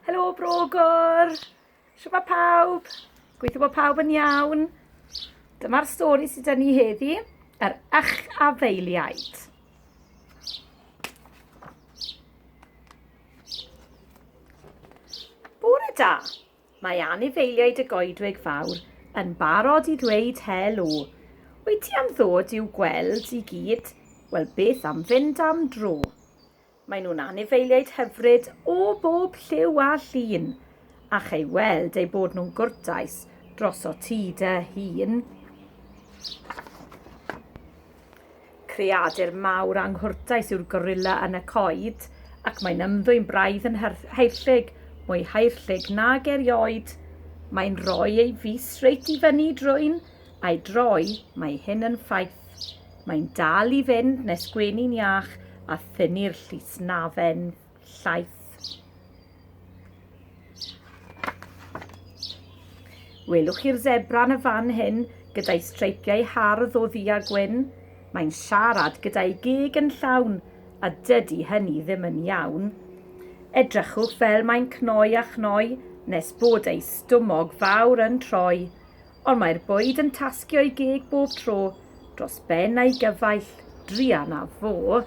Helo Brogor! Siwma pawb! Gweithio bod pawb yn iawn. Dyma'r stori sydd dyn ni heddi, yr ych afeiliaid. Bore da! Mae anifeiliaid y goedwig fawr yn barod i ddweud helo. Wyt ti am ddod i'w gweld i gyd? Wel beth am fynd am dro? Maen nhw'n anifeiliaid hyfryd o bob lliw a llun, a chei weld eu bod nhw'n gwrtais dros o ti dy hun. Creadur mawr anghwrtais yw'r gorilla yn y coed, ac mae'n ymddwyn braidd yn haerllug, mwy haerllug nag erioed. Mae'n rhoi ei fys reit i fyny drwy'n a'i droi, mae hyn yn ffaith. Mae'n dal i fynd nes gwenu'n iach a thynnu'r llysnafen llaith. Welwch chi'r zebra yn y fan hyn gyda'i streipiau hardd o ddu a gwyn? Mae'n siarad gyda'i geg yn llawn a dydy hynny ddim yn iawn. Edrychwch fel mae'n cnoi a chnoi nes bod ei stumog fawr yn troi. ond mae'r bwyd yn tasgio'i geg bob tro dros ben a'i gyfaill, druan a fo.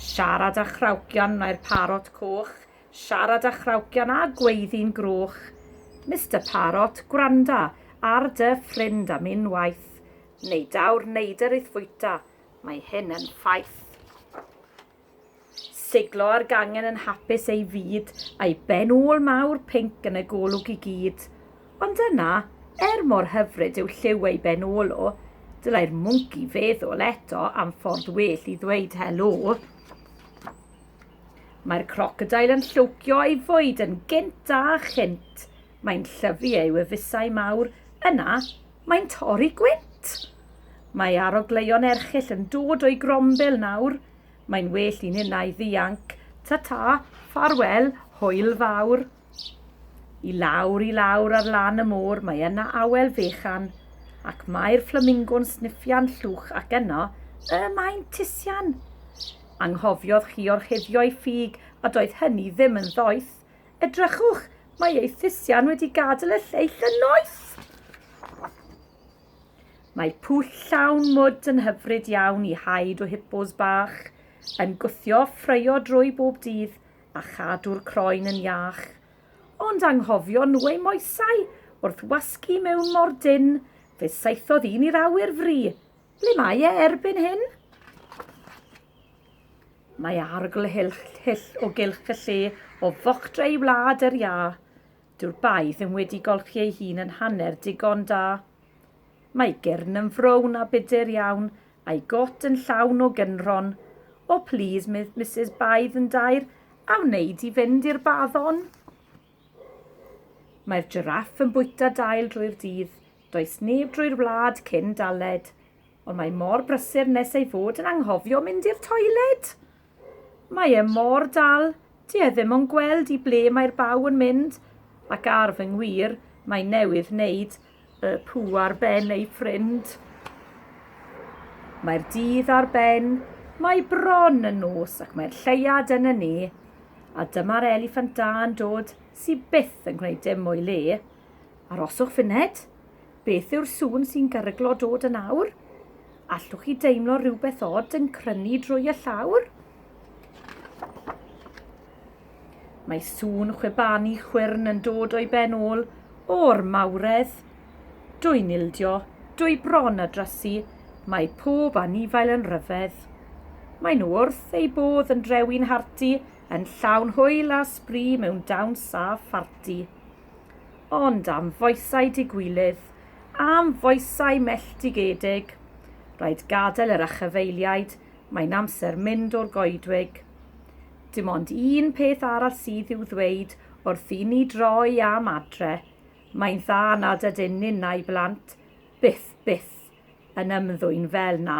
Siarad â chrawcian mae'r parot coch, siarad â chrawcian a gweiddi'n groch. Mister Parot, gwranda ar dy ffrind am unwaith, neu daw'r neidr i'th fwyta, mae hyn yn ffaith. Siglo ar gangen yn hapus ei fyd, a'i ben ôl mawr pinc yn y golwg i gyd. Ond yna, er mor hyfryd yw lliw ei ben ôl o, dylai'r mwnci feddwl eto am ffordd well i ddweud helo. Mae'r crocodail yn llwcio ei fwyd yn gynt a chynt. Mae'n llyfu ei wefusau mawr, yna Mae'n torri gwynt! Mae arogleuon erchyll yn dod o'i grombil nawr. Mae'n well i ninnau ddianc. Ta-ta, ffarwel, hwyl fawr. I lawr, i lawr ar lan y môr, mae yna awel fechan, ac mae'r fflamingo'n sniffian llwch ac yno, y mae'n tisian. Anghofiodd chi orchuddio'i ffug a doedd hynny ddim yn ddoeth. Edrychwch, mae ei thusian wedi gadael y lleill yn noeth. Mae pwll llawn mwd yn hyfryd iawn i haid o hippos bach, yn gwthio ffreio drwy bob dydd a chadw'r croen yn iach. Ond anghofio nhw ei moesau wrth wasgu mewn mor dyn, fe saethodd un i'r awyr fri. Ble mae e erbyn hyn? Mae arogl hyll o gylch y lle o fochdra i wlad yr iâ. Dyw'r bae ddim wedi golchi ei hun yn hanner digon da. Mae gyrn yn frown a budur iawn, a'i got yn llawn o gynrhon. O plîs, Misus Baedd yn daer, a wneud i fynd i'r baddon? Mae'r jiráff yn bwyta dail drwy'r dydd, does neb drwy'r wlad cyn daled, ond mae mor brysur nes ei fod yn anghofio mynd i'r toiled! Mae e mor dal, dyw e ddim yn gweld i ble mae'r baw yn mynd, ac ar fy ngwir, mae newydd wneud Y pw ar ben ei ffrind. Mae'r dydd ar ben, mae bron yn nos ac mae'r lleiad yn y ne, a dyma'r eliffant da yn dod sy byth yn gwneud dim o'i le. Aroswch funed. Beth yw'r sŵn sy'n garyglo dod yn awr? Allwch chi deimlo rhywbeth od yn crynu drwy y llawr? Mae sŵn chwibanu chwyrn yn dod o'i ben ôl o'r mawredd. Dwy'n ildio, dwy bron a drysu, mae pob anifail yn rhyfedd. Mae nhw wrth eu bodd yn drewi'n harti, yn llawn hwyl a sbri mewn dawns a pharti. Ond am foesau digwilydd, am foesau melltigedig, rhaid gadael yr achafaeliaid, mae'n amser mynd o'r goedwig. Dim ond un peth arall sydd i'w ddweud wrth i ni droi am adre, mae'n dda nad ydyn ni na'i blant byth, byth yn ymddwyn fel 'na.